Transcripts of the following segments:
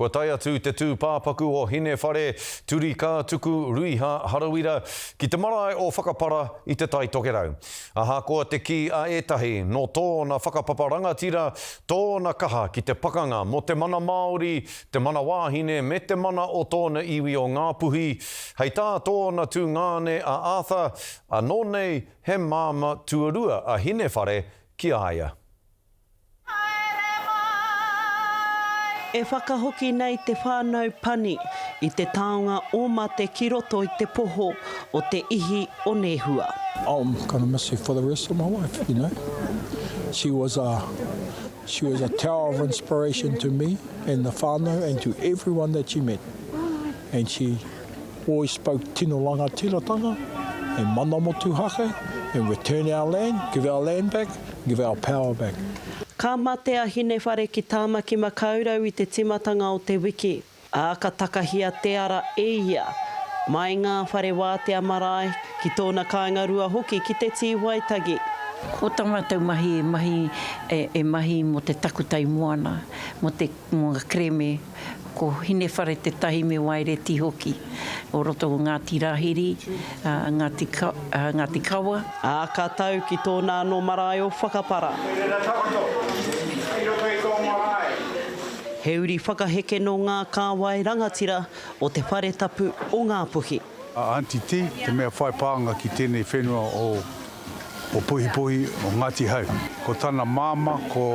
Kua tae atu te tūpāpaku o Hinewhare, Turika, Tuku, Ruiha, Harawira, ki te marae o Whakapara i Te Tai Tokerau. Ahakoa te kī a ētahi, nō tōna whakapapa rangatira tōna kaha ki te pakanga mō te mana Māori, te mana wāhine me te mana o tōna iwi o Ngā Puhi, hei tā tōna tungāne a Arthur, anō nei he māmā tuarua a Hinewhare ki a ia. E whakahoki nei te whānau Pani i te taonga o Mate ki roto i te poho o te ihi o Nehua. I'll gonna miss her for the rest of my life, you know. She was a, she was a tower of inspiration to me and the whānau and to everyone that she met. And she. Oi spoke tino rangatiratanga, e mana motuhake, and return our land, give our land back, give our power back. Ka mate a Hinewhare ki Tāmaki Makaurau i te timatanga o te wiki, ā, ka takahia te ara e ia. Mai ngā whare wātea marae, ki tōna kāinga rua hoki ki te Tīwaitagi. Ko tā mātou mahi e mahi, e mahi mō te takutai moana, mō te. Mō ngā kerēme, ko Hinewhare Te Tahi me Waereti hoki, o roto o Ngāti Rāhiri, Ngāti Kawa. Ā, ka tau ki tōna anō marae o Whakapara. Kei reira takoto, kei roto i tō marae. He uri whakaheke nō ngā kāwai rangatira o te whare tapu o Ngāpuhi. A Aunty Ti, te mea whai pānga ki tēnei whenua o o Puhipuhi, o Ngāti Hau. Ko tana māmā ko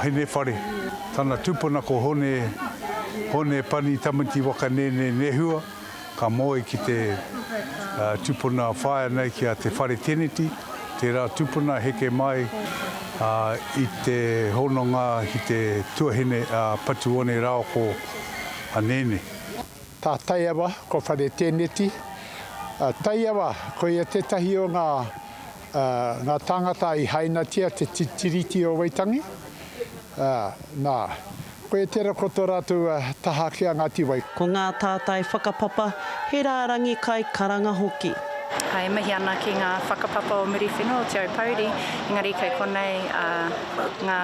Henewhare, tana tupuna ko Hone, Hone Pani Tamati Wakanēnē Nehua, ka moe ki te tupuna whaea nei ki a Te Whare Teneti, tērā tupuna heke mai i te hononga ki te tuahine a Patuone Raoko a Nēnē. Tā Taiawa, ko Whare Tēneti. Taiawa, koia tētahi o ngā ngā tāngata i hainatia te Tiriti o Waitangi. Nā, koia tērā ko tō rātou taha ki a Ngāti Wai. Ko ngā tātai whakapapa, he rārangi kai karanga hoki. E mihi ana ki ngā whakapapa o Muriwhenua, o Te Aupouri, engari kei konei ngā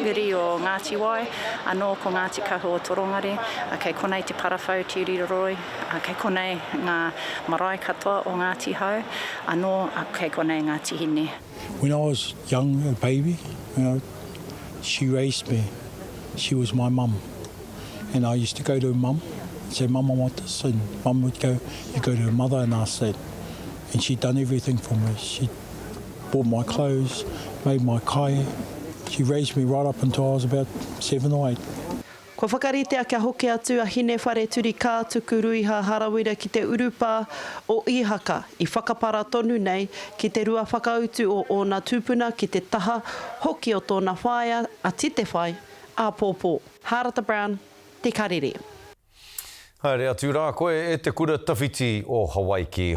uri o Ngāti Wai. Anō ko Ngāti Kahu o Torongare, kei konei te parawhau Tiriroroi, kei konei ngā marae katoa o Ngāti Hau, anō kei konei ngā tihine. When I was young a baby you know she raised me she was my mum and I used to go to mum and say mum I want this and mum would go you go to mother and ask that and she done everything for me she bought my clothes, made my kai, she raised me right up until I was about seven or eight. Kua whakaritea kia hoki atu a Hinewhareturikā tuku ruiha harawira ki te urupā o Īhaka i whakapara tonu nei ki te rua whakautu o ōna tūpuna ki te taha hoki o tōna whaea a Titewhai āpōpō. Hārata Brown, Te Karere. Haere atu rā koe e te kura tawhiti o Hawaiki.